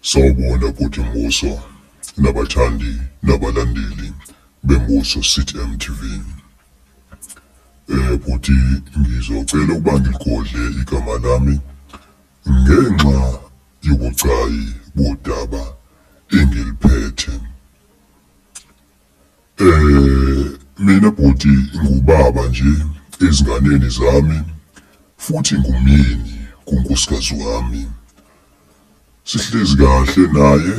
Sawubona bhuti Mbuso nabathandi nabalandeli beMbuso City MTV. Eh bhuti ngizocela ukuba ngiligodle igama lami ngenxa yobucayi bodaba engiliphethe. Eh mina bhuti ngubaba nje ezinganeni zami futhi ngumyeni kunkosikazi wami. Sihlezi kahle naye.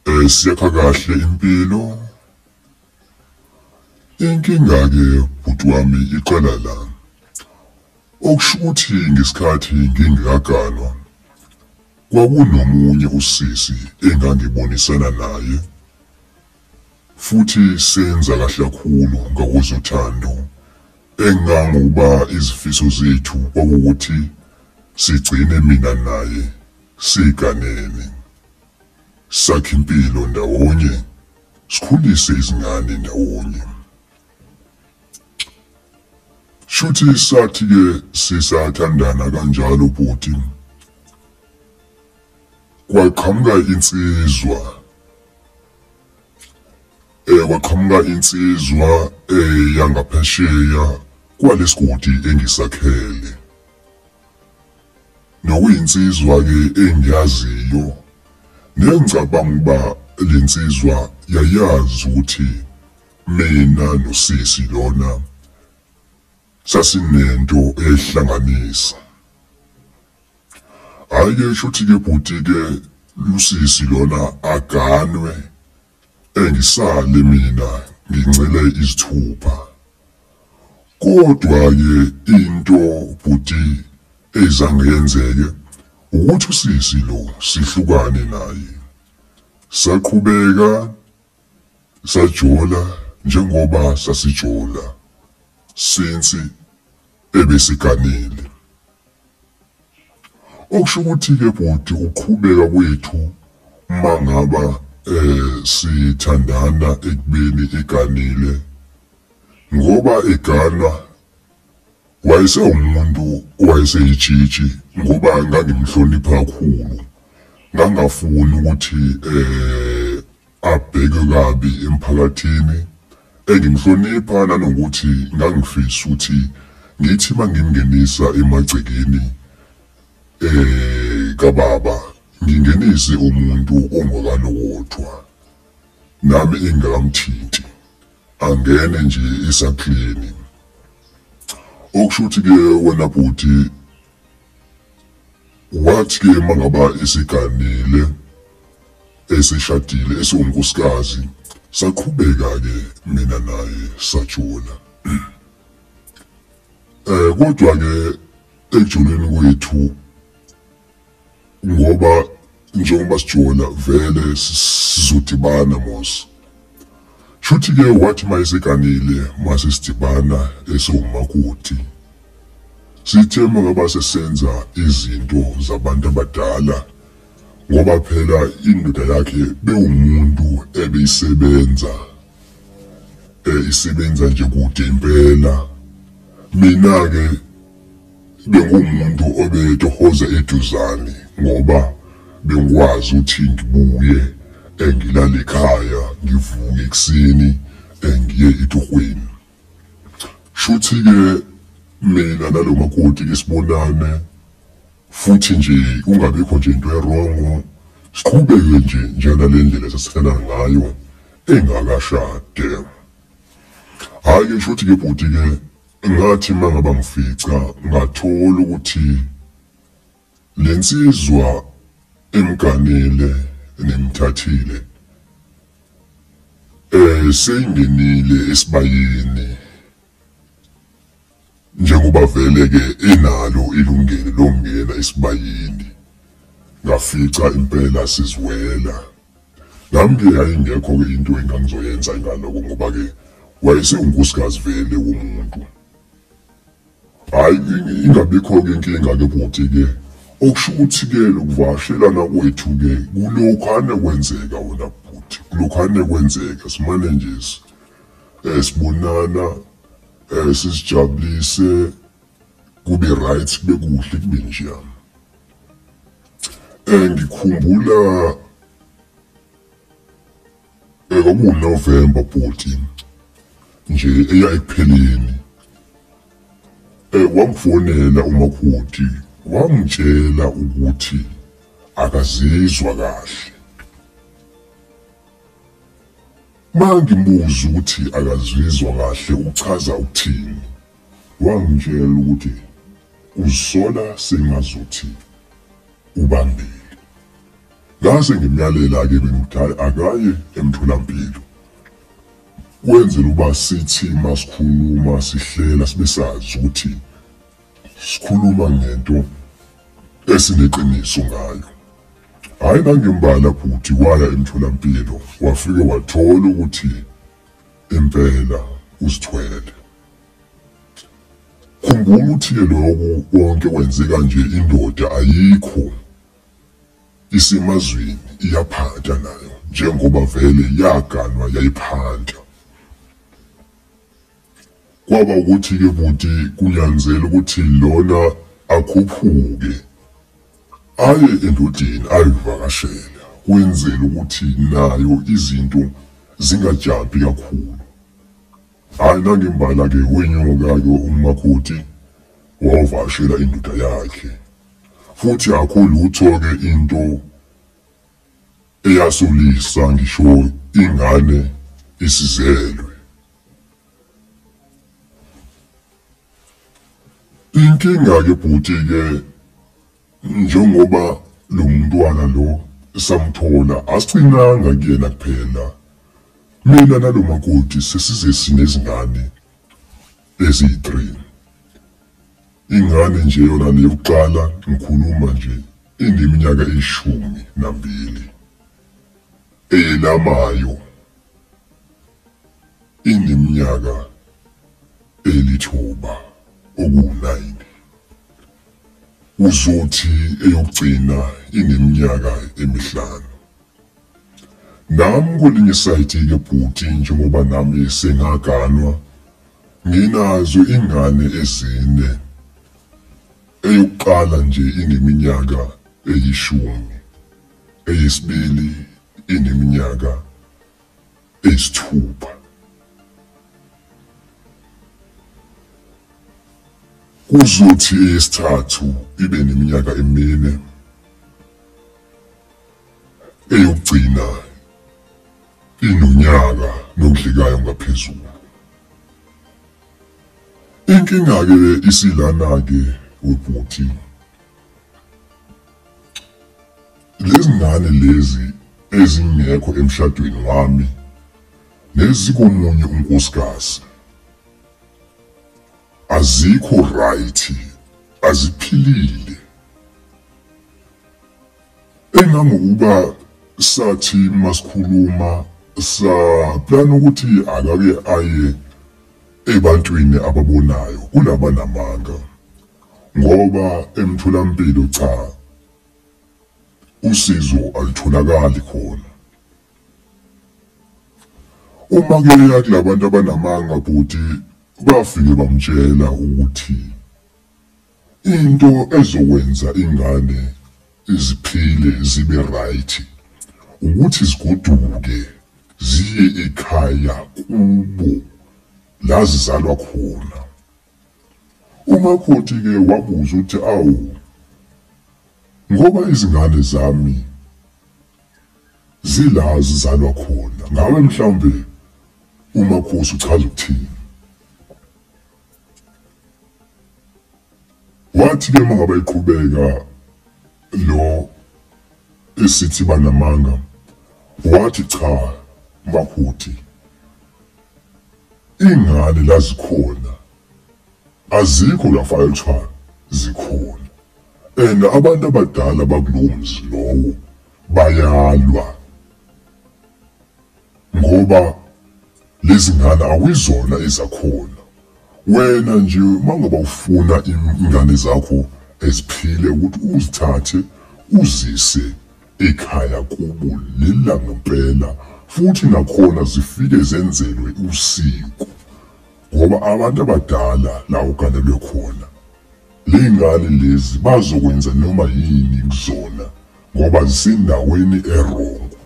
Eh siyakha kahle impilo. Inkinga ke bhuti wami iqala la. Okusho ukuthi ngesikhathi ngingekaganwa kwakunomunye usisi engangibonisana naye futhi senza kahle kakhulu ngakwezothando engangokuba izifiso zethu kwakuwukuthi sigcine mina naye siganene, sakhe impilo ndawonye, sikhulise izingane ndawonye. Shuthi sathi ke sisathandana kanjalo bhuti. Kwaqhamuka insizwa. Eh kwaqhamuka insizwa eh yangaphesheya kwalesigodi engisakhele. Nokuyinsizwa ke engiyaziyo nengicabanga uba lensizwa yayazi ukuthi Mina nosisi lona sasinento ehlanganisa. Hayi ke shuthi ke bhuti ke lusisi lona aganwe engisale mina ngincele izithupha. Kodwa ke into bhuti ezange yenzeke ukuthi usisi lo sihlukane naye. Saqhubeka Sajola njengoba sasijola since ebesiganile. Okusho ukuthi ke bhuti ukuqhubeka kwethu mangaba eh sithandana ekubeni eganile ngoba eganwa Wayesewumuntu owayeseyitshitshi ngoba ngangimhlonipha kakhulu. Ngangafuni ukuthi eh abheke kabi emphakathini. Engimhlonipha nanokuthi ngangifisa ukuthi ngithi mangimngenisa emagcekeni eh kababa ngingenise umuntu ongokalokotwa nami engakamthinti. Angene nje esaklini. Okusho ukuthi ke wena bhuti wathi ke mangaba isiganile esishadile esiwunkosikazi saqhubeka ke mina naye sajula eh kodwa ke ekujuleni kwethu ngoba njengoba sijola vele sizodibana mos shuthi ke wathi mayeseganile mase sidibana esiwumakoti sithe mangaba sesenza izinto zabantu abadala ngoba phela indoda yakhe bewumuntu ebeyisebenza eh isebenza nje kude impela mina ke Bekuwumuntu obetohoza eduzane ngoba bengikwazi ukuthi ngibuye eh, ngilale ekhaya ngivuke ekuseni eh, ngiye etohweni shuthi-ke mina nalo makoti ke sibonane futhi nje kungabikho nje into erongo siqhubeke nje njena le ndlela sesithela ngayo engakashade hhayi-ke shuthi-ke bhuti-ke Ngathi mangaba ngifica ngathola ukuthi lensizwa emganile nemthathile eh seyingenile esibayeni njengoba vele ke enalo ilungelo lokungena esibayeni ngafica impela sizwela Nami ke yayingekho ke into engangizoyenza ingaloko ngoba ke wayesewunkosikazi vele womuntu. Hayi ingabikho ke inkinga ke bhuti ke okusho ukuthi ke lokuvashelana kwethu ke kulokhu ane kwenzeka wona bhuti kulokhu ane kwenzeka simane nje eh sibonana eh sisijabulise kube right kube kuhle kube njani Eh ngikhumbula eh kwakuwu November 14 nje eya ekupheleni eh wangifonela umakhuthi wangitshela ukuthi akazizwa kahle mangimbuza ukuthi akazizwa kahle uchaza ukuthini wangitshela ukuthi Uzisola sengazuthi ubambile. Ngase ngimyalela-ke bengithi hhayi akaye emtholampilo. Kwenzela uba sithi masikhuluma sihlela sibe sazi ukuthi sikhuluma ngento esineqiniso ngayo. Hhayi nangembala bhuti waya emtholampilo wafike wathola ukuthi impela uzithwele. khumbula ukuthi ke lokhu konke kwenzeka nje indoda ayikho isemazweni iyaphata nayo njengoba vele yaganwa yayiphanta kwaba ukuthi ke buti kunyanzela ukuthi lona akhuphuke aye endodeni ayivakashela kwenzela ukuthi nayo izinto zingajabhi kakhulu Hayi nangimbala ke wenyuka ke umakoti wawavashela indoda yakhe. Futhi akho lutho ke into eyasolisa ngisho ingane isizelwe. Inkinga ke bhuti ke Njengoba lo mntwana lo samthola asicinanga kuyena kuphela. Mina nalo makoti sesize sinezingane eziyi-three. Ingane nje yona le yokuqala ngikhuluma nje ineminyaka eyishumi nambili. Eyelamayo ineminyaka elithuba okuwu-nine. Uzothi eyokugcina ineminyaka emihlanu. Nam kwelinye isayidi ke bhuti njengoba nami sengaganwa nginazo ingane ezine eyokuqala nje ineminyaka eyishumi eyesibili ineminyaka ezithupha. Kuzothi eyesithathu ibe neminyaka emine. Eyokugcina inonyaka nokudlikayo ngaphezulu. Inkinga-ke isilana-ke webhuti. Lezi ngane lezi ezingekho emshadweni wami nezikomunye unkosikazi azikho right aziphilile engangokuba sathi masikhuluma sa plan ukuthi akake aye ebantwini ababonayo kulabanamanga Ngoba emtholampilo cha usizo alitholakali khona. Uma kuya kulabantu abanamanga bhuti bafike bamtshela ukuthi into ezokwenza ingane iziphile zibe right ukuthi zigoduke ziye ekhaya kubo la zizalwa khona. UMakhothi ke wabuza ukuthi awu ngoba izingane zami zila zizalwa khona ngabe mhlawumbe uMakhosi uchaza ukuthini? Wathi ke mangaba iqhubeka lo esithi banamanga wathi cha Makhothi Ingane la zikhona azikho la file kuthiwa zikhona and abantu abadala bakulowo mzi lowo bayalwa ngoba lezi ngane awuyizona ezakhona wena nje mangaba ufuna ingane zakho eziphile ukuthi uzithathe uzise Ekhaya kubo lina ngempela futhi nakhona zifike zenzelwe usiko ngoba abantu abadala la uganelwe khona. Ley'ngane lezi bazokwenza noma yini kuzona ngoba zisendaweni erongo.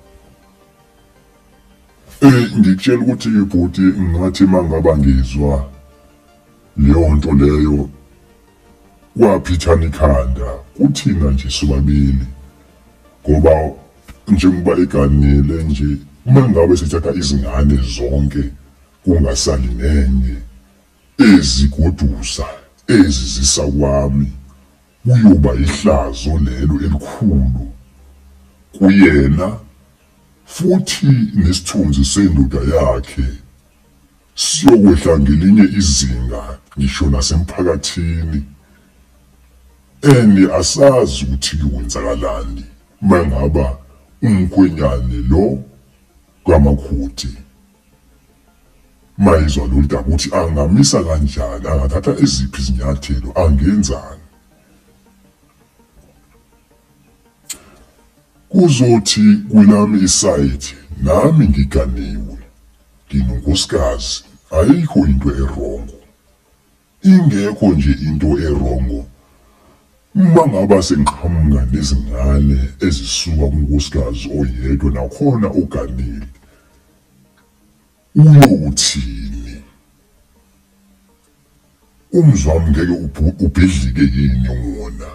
Eh ngikutshela ukuthi bhuti ngathi mangaba ngizwa leyo nto leyo Waphithana ikhanda kuthina nje sobabili ngoba njengoba eganile nje uma ngabe sithatha izingane zonke kungasali nenye ezigodusa ezizisa kwami kuyoba ihlazo lelo elikhulu kuyena futhi nesithunzi sendoda yakhe. Siyokwehla ngelinye izinga ngisho nasemphakathini and asazi ukuthi kwenzakalani mangaba umkhwenyane lo kamakhuthi mayizwa lolu daba ukuthi angamisa kanjani angathatha eziphi izinyathelo angenzani kuzothi kwelami isayidi nami ngiganiwe Nginonkosikazi ayikho into erongo ingekho nje into erongo uma ngaba sengiqhamuka nezingane ezisuka kunkosikazi oyedwa nakhona oganile uyothini umzwami ngeke ubhidlike yini wona.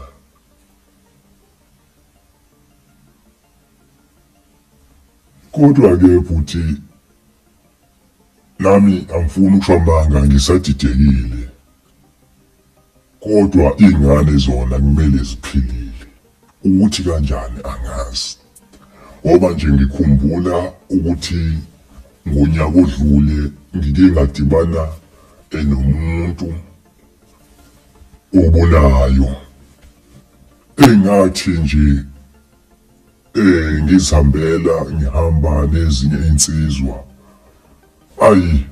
Kodwa ke bhuti nami angifuni ukusho amanga ngisadidekile kodwa iy'ngane zona kumele ziphilile ukuthi kanjani angazi ngoba nje ngikhumbula ukuthi ngonyaka odlule ngike ngadibana enomuntu obulayo engathi nje eh ngizihambela ngihamba nezinye insizwa ayi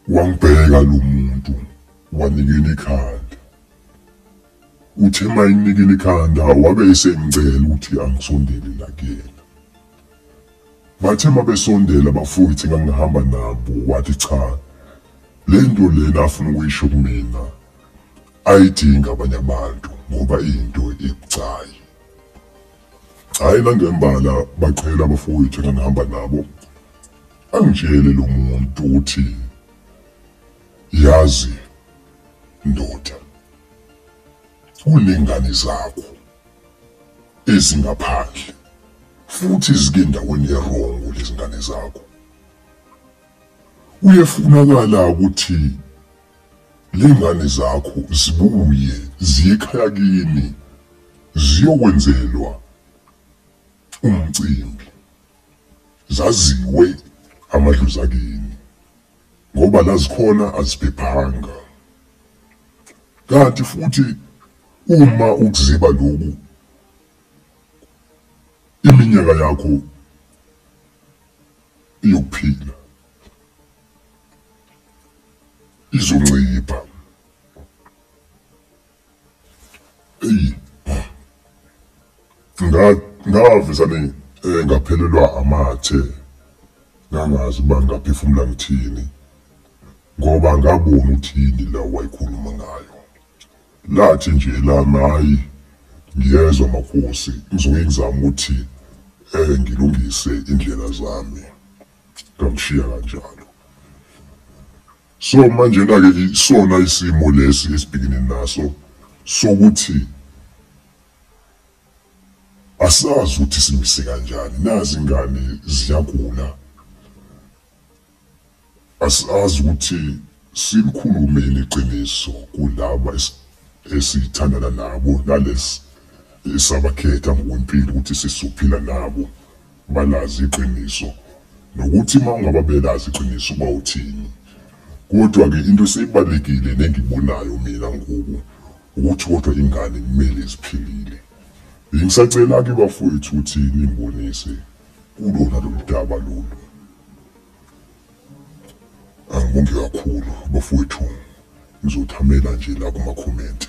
wangibheka lo muntu wanikela ikhanda uthe mayinikela ikhanda wabe esengicela ukuthi angisondele la kuyena bathe mabesondela bafowethu ngangihamba nabo wathi cha lento lena afuna ukuyisho kumina Ayidingi abanye abantu ngoba iyinto ebucayi. Hhayi nangembala baqhela abafowethu engangihamba nabo. Angitshele lo muntu ukuthi yazi ndoda kuney'ngane zakho ezingaphandle futhi zike endaweni erongo lezi ngane zakho. Kuyefunakala ukuthi Lengane zakho zibuye ziyekhaya kini ziyokwenzelwa umcimbi zaziwe amadlozi akini ngoba lazikhona aziphephanga kanti futhi uma ukuziba lokhu iminyaka yakho yokuphila izoncipha. Eyi ngavezane eh, ngaphelelwa amathe ngangazi uba ngaphefumula ngithini ngoba ngabona ukuthi yini la wayikhuluma ngayo lathi nje lami hhayi ngiyezwa makhosi ngizoke ngizame ukuthi um ngilungise indlela zami Ngamshiya kanjalo. So manjena-ke isona isimo lesi esibhekene naso sokuthi asazi ukuthi simise kanjani nazi ingane ziyagula asazi ukuthi silikhulumeni iqiniso kulaba esithandana nabo nalesi esabakhetha ngokwempilo ukuthi sizophila nabo balazi iqiniso nokuthi mawungaba belazi iqiniso uba uthini kodwa ke into eseyibalekile nengibonayo mina ngoku ukuthi kodwa ingane kumele ziphilile bengisacela ke bafowethu ukuthi nimbonise kulona lolu daba lolu angibonge kakhulu bafowethu ngizothamela nje la kuma-comment